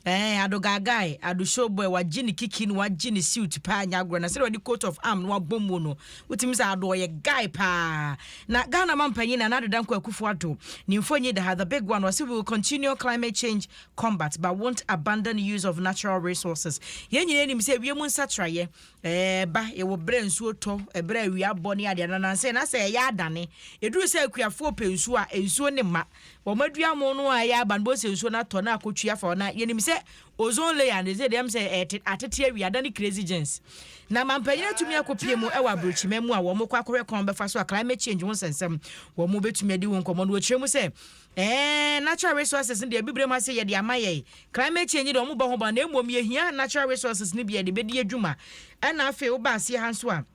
Ɛɛn ado gaagae ado show boy wagye ne kiki na wagye ne suit paa nyɛ agorɔ na sɛdeɛ ɔde coat of arm no abɔ mu no wotumi sɛ ado ɔyɛ guy paa na Ghana mampanyin Nana Addo Dankwa Akufo Addo ne mfonyi da ha the big one ɔse we will continue climate change combat but won't abandon use of natural resources yɛn nyinaa nim sɛ wiem nsakyeraeɛ ɛɛba yɛwɔ berɛ nsuo tɔ ɛberɛ awia bɔ ne adeɛ na nansɛ na sɛ ɛyɛ adane ɛduru sɛ akuafoɔ pɛ nsuo a nsuo ne mma wɔadua mo no a ɛyɛ aba no bɛhu sɛ nsuo no atɔ na akɔtwi afa hɔ na yɛnim sɛ ozone layer no ɛsɛ deɛm sɛ ɛte atete awi ada ne crazy gens na mampanyini atumi akɔpie mu ɛwɔ aburokyima mu a wɔn kɔ akɔhwɛ kwan bɛfa so a climate change ho nsɛnsɛm wɔn bɛtumi adi ho nkɔmmɔ no wɔkyerɛ mu sɛ ɛɛ natural resources no deɛ bibire mu ase yɛ de ama yɛn climate change deɛ wɔn bɔ ho ba na mmom yɛhia natural resources no bi yɛde bɛdi adwuma ɛna afei woba aseɛ ha nso a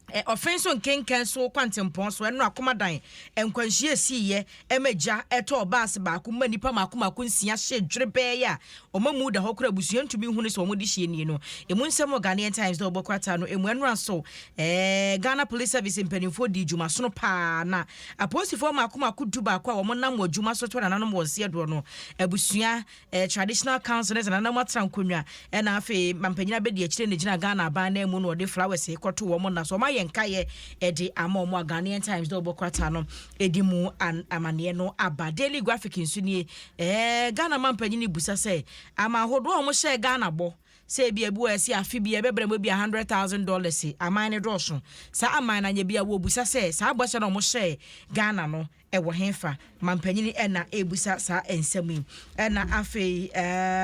Ɛ ɔfe nso nkenkan so kwantempɔn so ɛno akoma dan nkwanhyia esiiyɛ ɛma gya ɛtɔɔ baase baako mma nnipa mako mako nsia hye dwere bɛɛ yɛ a ɔma mu da hɔ kora abusua ntumi hunu sɛ ɔmo de hyeɛ nie no emu nsɛm wɔ Ghanaian Times dɛ ɔbɔ krataa no emu ɛno aso ɛɛ Ghana Police Service mpanimfoɔ dii dwuma sono paa na apolisifoɔ mako mako du baako a ɔmo nam wɔ dwuma so to nananom wɔn seɛ doɔ no abusua eh, traditional councillors na nam atra nkonnwa ɛna afei mampanyin abɛdi akyire na gyina Ghana aban nan mu na ɔde flowers kɔto wɔn nna so ɔma yɛ nkaeɛ ɛde ama wɔn a Ghanaian Times dɛ ɔbɔ krataa no ɛdi mu amaneɛ no aba Daily Graphic nso nie eh, Ghana mampanyin busa sɛ ama ahodoɔ a wɔhyɛɛ Ghana bɔ sɛ ebi ebi wɔ ɛsi afe bi ɛbɛbrɛ mu ebi a hundred thousand dollars aman ne dɔɔso saa aman na nyɛ bi a wɔbusa sɛ saa bɔhyɛ na wɔhyɛɛ Ghana no Ɛwɔ hefa? Mampanin Erna rebisa saa nsɛm yi. Ɛna afei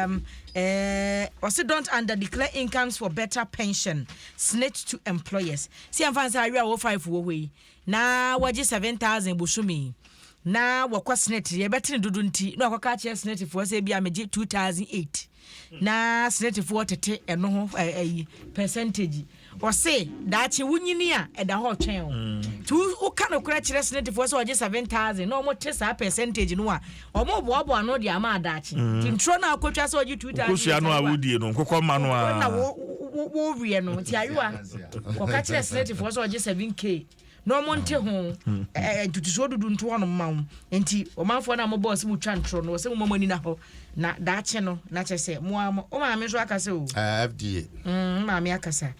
um, eh, ɔse don't under declare incomes for better pension snitch to employers. Si ɛmfa nsa awe a wɔ five wɔ hɔ yi na wɔgye seven thousand bosome yi na wɔkɔ snit yɛbɛtene dodo nti na wɔkɔka akyerɛ snitfoɔ sɛ ebia megye two thousand eight. na senɛtifoɔ tete ɛno ho ayi pɛsɛntagyi ɔse daakye wonyini a ɛda hɔ ɔtwɛn o nti mm. woka nokorɛ kyerɛ senɛtifoɔ sɛ ɔgye 7000 na ɔmote saa pɛsɛntagyi no a ɔmoboaboa ano de ama adaakye mm. nti ntorɔ no a wokɔtwa sɛ ɔgye 2000 no a wodie no nkokɔ ma no a woweɛ no nti ayewa wɔka kyerɛ senɛtifoɔ sɛ ɔgye 7k na wɔn nte ho ɛɛ ntutusuo dudu nto hɔnom ma wɔn nti ɔmanfoɔ no a wɔbɔ ɔsɛ mo twa ntorɔ no ɔsɛ mo ma mo ani na hɔ na daakye no na kyɛ sɛ mo a mo o maame nso akasa o. Ah, fda. Mm, maame akasa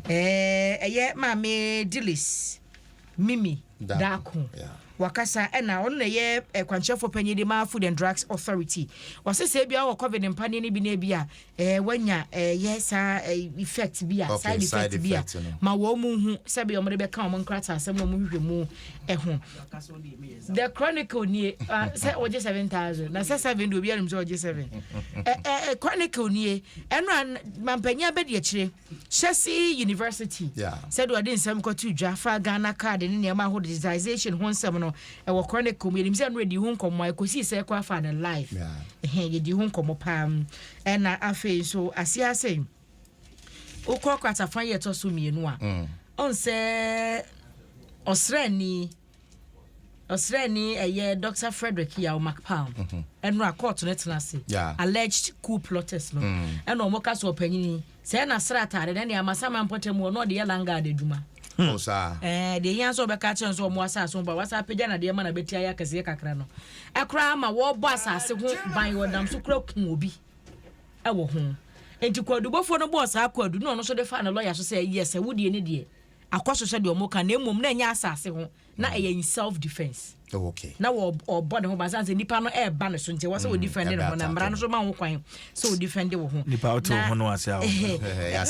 ɛɛ ɛyɛ maame dilis mimi daako. Yeah. Wakasa na ɔno na ɛyɛ kwankyerɛfoɔ panyin de ma Food and Drugs Authority. Ɔse sɛ ebia wɔ Covid mpaneɛ no bi na ebia wanya ɛyɛ saa effect bi a, side effect bi a, ma wɔn mu hu sɛ bia wɔn de bɛka wɔn nkrataasɛm na wɔn hwehwɛ mu ɛho. The Chronicle nie sɛ wɔgye seven thousand na sɛ seven de obi anim sɛ wɔgye seven. Ɛ ɛ Chronicle nie ɛno a mampanyin abɛdi akyire. Hyɛse University, sɛdeɛ ɔde nsɛm kɔto dwa fa Ghana card ne nneɛma ahodoɔ digitization ho nsɛm no ɛwɔ Chronicle mu yɛnim sɛ ɛno ɛdi ho nkɔmmɔ a ɛkɔsii sɛ ɛkɔ afa no live ɛhɛn yɛdi ho nkɔmmɔ paa ɛna afei nso aseɛ ase wokɔ kwatafa yɛ ɛtɔ so mmienu a mm. ɔn sɛ ɔsrani Ɔsraani ɛyɛ Dɔkta Frederick Yaw McPalm ɛno a kɔɔto no tena ase alleged coup plotters no ɛna wɔn ka so ɔpanyin yi sɛɛ na sra ataade na ɛna ama saman mpɔtam hɔ na ɔde yɛ langard adwuma. Ɛɛ deɛ yɛn nso ɔbɛka kyerɛ nso wɔn asaase ho ba wɔasa apagya na deɛ ma na bɛti ayɛ akɛseɛ kakra no ɛkoraa ama wɔbɔ asaase ho ban wɔnam so kura ku obi ɛwɔ ho nti kwadubofoɔ no bɔɔ saa kwadu na ɔno nso de faa ne lɔya so sɛ yɛ sɛ wo deɛ ne deɛ akɔ so sɛdeɛ ɔmo ka na mmom na ɛnyɛ asase ho na ɛyɛ in self defence oh, okay. na ɔbɔ ne ho ba sane sɛ nipa no ɛɛba ne so nti ɛwɔ sɛ mm, ɔdifɛnde ne ho na mmara no so ma ho kwan sɛ ɔdifɛnde wo ho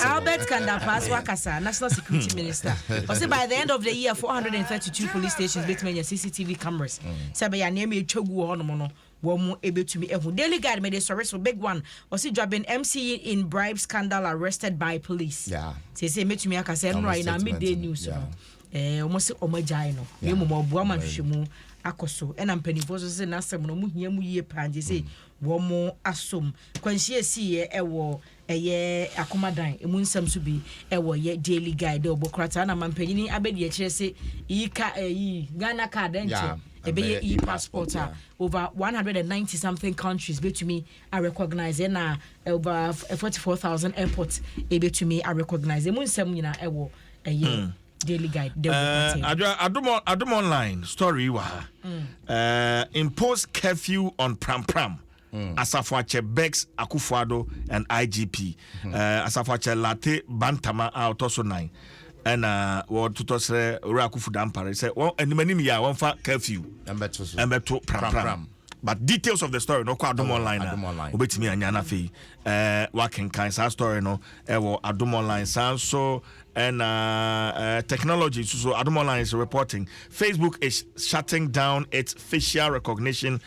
albert kandapaa so akasa national security mm. minister ɔse by the end of the year 432 police stations bɛtumi anya cctv cameras mm. sɛ bɛyɛ nneɛma ɛtwa gu wɔ hɔnom no Wɔn mo ebetumi ahu. Daily guide mede sɔre so big one ɔse dwaben MC yi in bribe scandal arrested by police Yeah. seesei mɛtumi aka sɛ ɛnora yi na Statement midday no, news no yeah. ɛɛ wɔn se wɔn agyae no na Yeah. mmom ɔboa ma Right. nhwehwɛmu akɔ so ɛna mpanimfoɔ nso se n'asɛm no wɔn hia mu yie paa nti se wɔn asom kwanhyia esiiɛ ɛwɔ Ɛyɛ akoma dan emu nsɛm nso bi wɔ yɛ Daily Guide dɛ ɔbɔ krataa na mampanyini abadiakyirɛ se iyi ka ɛyi Ghana card ɛnkyɛ ɛbɛyɛ iyi passport a over 190 something countries betumi a recognize ɛna over 44,000 airport ebetumi a recognize emu nsɛm nyina ɛwɔ ɛyɛ mm. Daily Guide dɛ ɔbɔ eh, krataa. Adomo Adomo online story wɔ ha. Mm. Eh, impose curfew on Pram Pram. Asafo Akyɛ Bex Akufo-Addo and IGP Asafo Akyɛ Lartey Bantama a ɔtɔ so nan ɛna wɔtotɔ srɛ Owura Akufu Dampare sɛ wɔn anim anim yɛ a wɔmfa curfew ɛmbɛto pram pram. But details of the story no kɔ Adom Online a wobɛtumi anya no afei wakenkan saa story no ɛwɔ Adom Online saa nso ɛna technology nso so Adom Online is reporting Facebook is shutting down its facial recognition